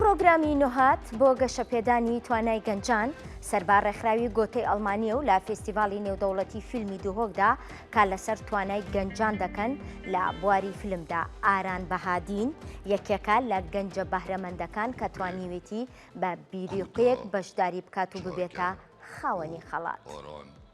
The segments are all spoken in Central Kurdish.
پڕۆگرامی نوهاد بۆ گەشەپێدانی توانای گەنجان سەربا ڕێکخراوی گۆتەی ئەڵمانیە و لە فیستیڤالی نێودەوڵەتی فیلمی دوهۆکدا کار لەسەر توانای گەنجان دەکەن لە بواری فیلمدا ئاران بەهادین یەکێکە لە گەنجە بەهرەمەندەکان کە توانیوێتی بە بیریقەیەک بەشداری بکات و ببێتە خاوەنی خەڵات.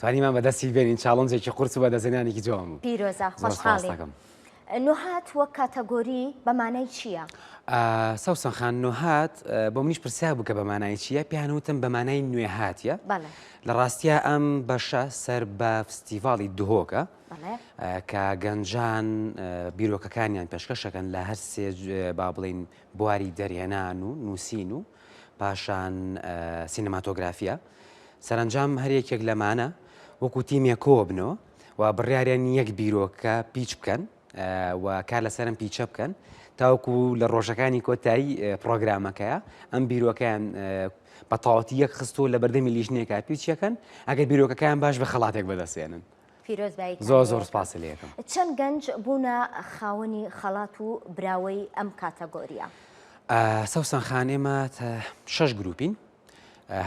توانیمان بەدەستی بێنین چاڵنجێکی قورس و بەدەستهێنانێکی جوان بوو پیرۆزە زۆر سوپاس خۆشحاڵی دەکەم. نوهات وەک کاتەگۆری بە مانای چییە؟ ئا سەوسەن خان نوهات ئە بۆ منیش پرسیار بوو کە بە مانای چییە پێیان وتم بە مانای نوێهاتییە بەڵێ لە ڕاستیا ئەم بەشە سەر بە فستیڤاڵی دهۆکە بەڵێ ئە کە گەنجان ئە بیرۆکەکانیان پێشکەش ئەکەن لە هەر سێ ج ئە با بڵێین بواری دەرهێنان و نووسین و پاشان ئە سینەماتۆگرافیا سەرەنجام هەر یەکێک لەمانە وەکو تیمێک کۆوە بنەوە و بڕیاریان یەک بیرۆکە پیچ بکەن و کار لەسەرم پیچە بکەن تاوەکو لە ڕۆژەکانی کۆتایی پرۆگرامەکەیە ئەم بیرۆکەیان بە تاوەتی یەک خستو لە بەردەمی لیژنێکا پیچەکەن ئەگەر بیرۆکەکەیان باش بە خەڵاتێک بەدەستێنن زۆر زۆر سپاس لەکەم چەند گەنج بوونە خاوەنی خەڵات و براوەی ئەم کاتەگۆریە سەوسەن خان ئێمە شش گروپین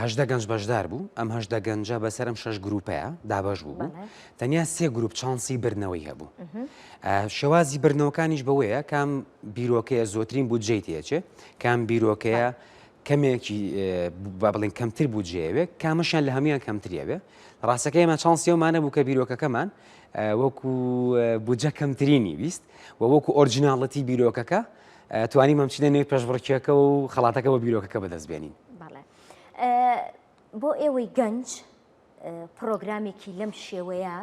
هەژدە گەنج بەشدار بوو ئەم هەژدە گەنجە بەسەر ئەم شەش گروپەیە دابش بوو بوو تەنیا سێ گروپ چانسی برنەوەی هەبوو شێوازی برنەوەکانیش بەوەیە کام بیرۆکەیە زۆترین بوو جێ تێچێ کام بیرۆکەیە کەمێکی با بڵین کەمتر بوو جێوێ کامەشیان لە هەمویان کەمتریاوێ ڕاستەکەی ئەمە چانسیەومانە بوو کە بیرۆکەکەمان وەکو بودجە کەمترینی ویست و وەکو ئۆرجناڵەتی بیرۆکەکە توانیمە بچینە نێو پێشبڕکێکە و خەڵاتەکە بە بیرۆکەکە بەدەست بێنین بۆ ئێوەی گەنج پرۆگرامێکی لەم شێوەیە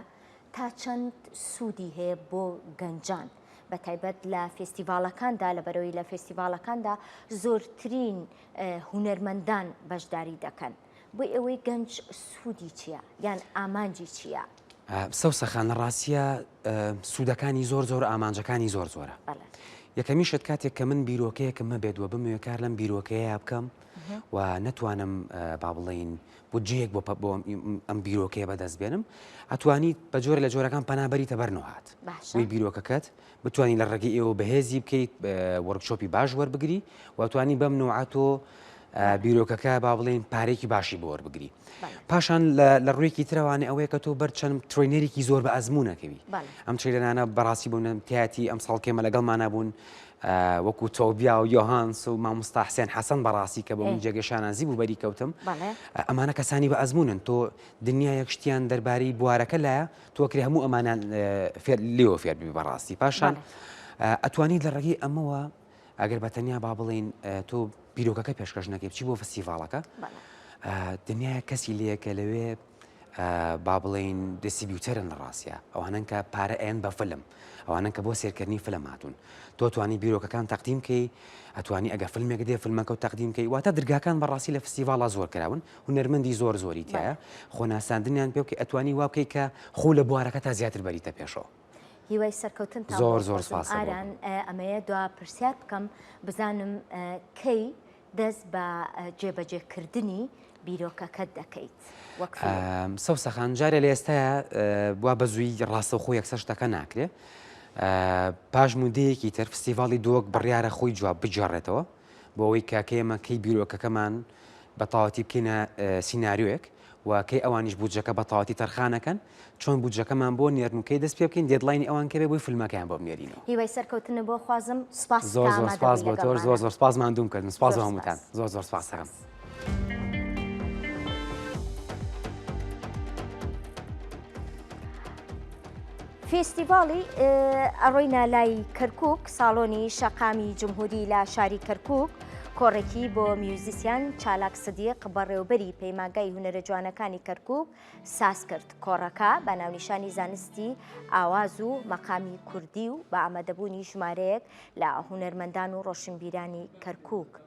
تا چەند سوودی هەیە بۆ گەنجان بە تایبەت لە فستیڤالەکاندا لە بەرەوەی لە فستیڤالەکاندا زۆرترین هوەرمەندان بەشداری دەکەن بۆ ئێوەی گەنج سوودی چییە یان ئامانجی چییە؟ سوسە خان ڕاستە سوودەکانی زۆر زۆر ئامانجەکانی زۆر زۆرە یەکەمیشت کاتێک کە من بیرۆکەیەکم مەبێت وە بموێ کار لەم بیرۆکەیە بکەم و نەتوانم با بڵین بودجەیەک بۆ بۆ ئەم بیرۆکەیە بەدەست بێنم ئەتوانیت بە جۆر لە جۆرەکان پەنابەری تەبەرنەوەهات وی بیرۆکەکەت بتوانی لە ڕێگەی ئێوە بەهێزی بکەیت وەرکشۆپی باش وەربگری و توانی بەم نوعە تۆ بیرۆکەکە با بڵێن پارێکی باشی بۆ وەربگری پاشان لە ڕوویەکی ترەوانێ ئەوەیە کە تۆ بەرچەند ترۆینەرێکی زۆر بە ئەزمونونەکەوی ئەم چێلەنانە بەڕاستی بوونم تیاتی ئەم ساڵکێمە لەگەڵمانە بوون وەکو تۆبیا و یۆهانس و مامۆستا حسێن حەسەن بەڕاستی کە بۆ من جێگەشانازی بوو بەری کەوتم ئەمانە کەسانی بە ئەزمونن تۆ دنیا یەکشتیان دەربارەی بوارەکە لایە تۆکری هەموو ئەمانە لێوە فێربی بەڕاستی پاشان ئەتوانی لە ڕێگەی ئەمەوە ئەگەر بە تەنیا با بڵین تۆ بیرۆکەکە پێشکەش نەکەی بچی بۆ فستیڤالەکە دنیا کەسی لەیەکە لەوێ با بڵین دەسیبیوتەرن لە ڕاستە ئەوانن کە پارە ئەن بە فلم ئەوانن کە بۆ سێرکردنی فلم هاتوون تۆ توانی بیرۆکەکان تەقدیم کەی ئەتوانی ئەگە فیلمێک دێ فیلمەکە و تەقدیم کەی واتە درگاکان بەڕاستی لە فستیڤالە زۆر کراون هونەرمەندی زۆر زۆری تیایە خۆ ناساندنیان پێ بکەی ئەتوانی وا بکەی کە خۆ لە بوارەکە تا زیاتر بەریتە پێشەوە. هیوای سەرکەوتن تا زۆر زۆر سپاس ئاران ئەمەیە دوا پرسیار بکەم بزانم کەی دەست بە جێبەجێکردنی بیرۆکەکەت دەکەیت سەوسەخان جارێ لە ئێستا بوا بە زووی ڕاستەخۆ یەکسەر شتەکە ناکرێ پاش مودەیەکی تەرفسیڤاڵی دۆک بڕیارە خۆی جواب بجارڕێتەوە بۆ ئەوەی کە کەی ئێمە کەی بیرۆکەکەمان بە تەواوەتی بکەینە سیناریۆیەک و کەی ئەوانیش بودجەکە بە تەواوەتی تەرخانەکەن چۆن بودجەکەمان بۆ نێرن و کەی دەست پێ بکەین دێدلاینی ئەوان کەێ بۆی فیلمەکەیان بۆ بنێرینەوە هیوای سەرکەوتن بۆ خوازم سوپاس زۆر زۆر سپاس بۆ تۆش زۆر زۆر سپاس ماندووم کردن سپاس بۆ هەمووتان زۆر زۆر سپاس دەکەم فیستیڤاڵی ئەڕۆینە لای کەرکک ساڵۆنی شەقامی جمهوری لە شاری کەرکک کۆڕێکی بۆ میوزیسیان چالاک سدیق بەڕێوبەری پەیماگای هوەرە جوانەکانی کەرکک ساز کرد کۆڕەکە بە ناونیشانی زانستی ئاواز و مەقامی کوردی و بە ئامادەبوونی ژمارەیەک لە هوەرمەندان و ڕۆشنبیرانی کەرکک.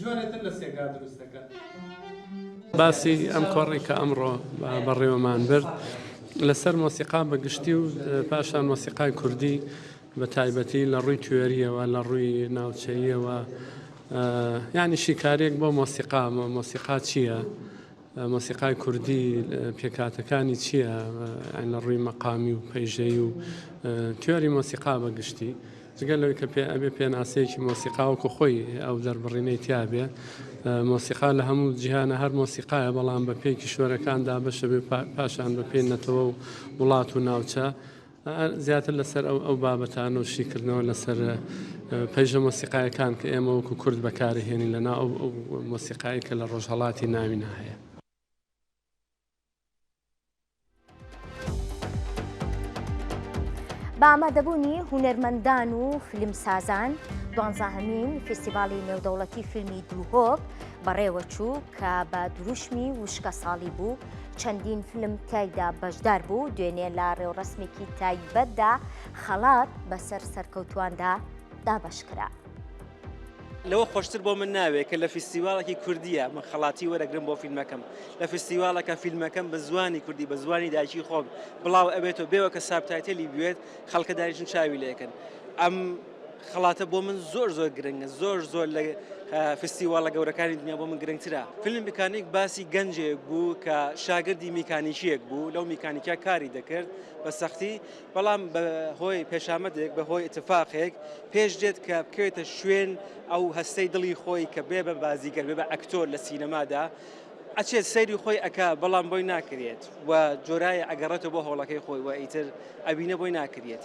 جۆرێ تر لە سێگا دروست دەکەن. باسی ئەم کۆڕی کە ئەمڕۆ بەڕێوەمان برد لەسەر مۆسیقا بە گشتی و پاشان مۆسیقای کوردی بە تایبەتی لە ڕووی توێریەوە لە ڕووی ناوچەیەوە ینی شیکارێک بۆ مۆسیقا مۆسیقا چییە؟ مۆسیقای کوردی پێکهاتەکانی چییە لە ڕووی مەقامی و پەیژەی و تیۆری مۆسیقا بە گشتی جگە لەوەی کە پێ ئەبێ پێناسەیەکی مۆسیقاوەکو خۆی ئەو دەربڕینەی تیاابێ مۆسیقا لە هەموو جیهانە هەر مۆسیقاە بەڵام بە پێی کیشوەرەکاندا بەشە بێ پاشان بە پێی نەتەوە و وڵات و ناوچە زیاتر لەسەر ئەو بابەتانە و شیکردنەوە لەسەر پەیژە مۆسیقایەکان کە ئێمە وەکو کورد بەکارهێنین لە ناو ئەو مۆسیقایی کە لە ڕۆژهڵاتی ناوی ناهەیە. بە ئامادەبوونی هونەرمەندان و فیلمسازان دوانزاهمین فیستیڤالی نێودەوڵەتی فیلمی دووهۆک بەڕێوەچوو کە بە دروشمی وشکە ساڵی بوو چەندین فلم تیایدا بەشدار بوو دوێنێ لە ڕێوڕسمێکی تایبەتدا خەڵات بەسەر سەرکەوتواندا دابشکرا. لەوە خۆشتر بۆ من ناوێت کە لە فیستیواڵێکی کوردیە من خەڵاتی وەرەگرم بۆ فیلمەکەم لە فیستیواڵەکە فیلمەکەم بە زوانی کوردی بە زوانی دایکی خۆم بڵاو ئەبێتەوە بێەوە کە سابتایتەلی بوێت خەڵکە دایشن چاوی لەکەن ئەم خەڵاتە بۆ من زۆر زۆر گرنگە زۆر زۆر لە فستیواڵە گەورەکانی دنیا بۆ من گرنگترە فیلم میکانیک باسی گەنجێک بوو کە شاگردی میکانیکیەک بوو لەو میکانیکیا کاری دەکرد بە سەختی بەڵام بە هۆی پێشامەدێک بە هۆی اتفاقێک پێش دێت کە بکەوێتە شوێن ئەو هەستەی دڵی خۆی کە بێ بە بازیگەر بێ بە ئەکتۆر لە سینەمادا ئەچێت سەیری خۆی ئەک بەڵام بۆی ناکرێت و جۆرایە ئەگەڕێتەوە بۆ هۆڵەکەی خۆی وە ئیتر ئەوینە بۆی ناکرێت.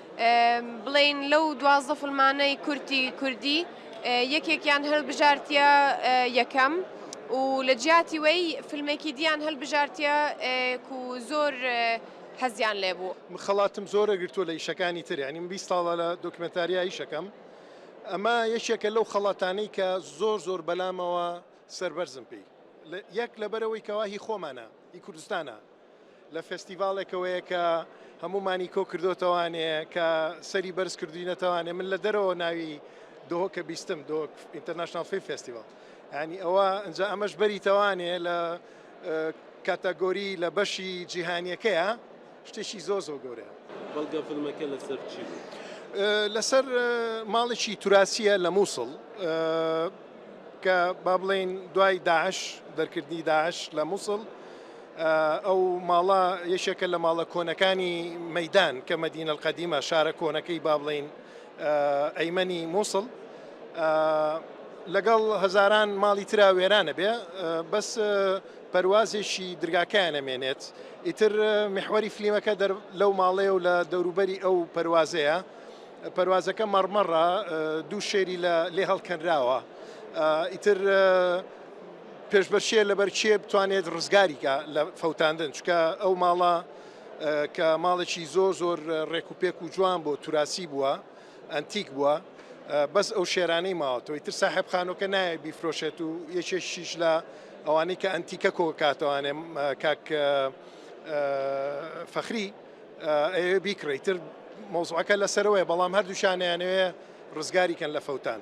بڵێین لەو دوازدە فلمانەی کورتی کوردی یەکێکیان هەلبژارتیە یەکەم و لە جیاتی وەی فلمێکی دییان هەلبژارتیە و زۆر حەزیان لێ بوو خەڵاتم زۆرە گرتووە لە ئیشەکانی تر ینیم بی ساڵە لە دۆکمنتاریا ئیشەکەم ئەمە یەکێکە لەو خەڵاتانەی کە زۆر زۆر بەلامەوە سەربەرزم پێی یەک لەبەرەوەی کەواهی خۆمانە ئی کوردستانە لە فێستیڤاڵێکەوەیە کە هەموومانی کۆ کردۆتەوانێ کە سەری بەرز کردوینەتەوانێ من لە دەرەوە ناوی دۆکە بیستم دۆک ئینتەرنشنال فیلم فێستیڤاڵ ینی ئەوە ئەجا ئەمەش بەریتەوانێ لە کاتەگۆری لە بەشی جیهانیەکەیە شتێکی زۆ زۆ گەورە بەڵگە فیلمەکە لەسەر چی لەسەر ماڵێکی توراسیە لە مووسڵ کە با بڵین دوای داعش دەرکردنی داعش لە مووسڵ ئەو ماڵە یەکێکە لە ماڵە کۆنەکانی مەدان کە مەدینە القدیمە شارە کۆنەکەی با بڵین ئەیمەنی مووسڵ لەگەڵ هەزاران ماڵی تررا وێرانە بێ بەس پەروازێکی درگاکەیان نەمێنێت ئیتر محوەری فلیمەکە لەو ماڵەیە و لە دەوروبەری ئەو پەروازەیە پەروازەکە مەڕمەڕە دوو شێری لە لێ هەڵکەنراوە ئیتر پێشبەرچیە لەبەر کێ بتوانێت ڕزگاری کا لە فەوتاندن چکە ئەو ماڵە کە ماڵێکی زۆر زۆر ڕێک و پێک و جوان بۆ توراسی بووە ئەنتیک بووە بەس ئەو شێرانەی ماوەتەوەی تر ساحب خانۆکە نایە بیفرۆشێت و یەکێکیش لە ئەوانەی کە ئەنتیکە کۆکاتوانێ کاک فەخری ئەوێ بیکڕیتر مۆزعەکە لەسەرەوەی بەڵام هەردووشانیانەوێ ڕزگاری کەن لە فەوتان.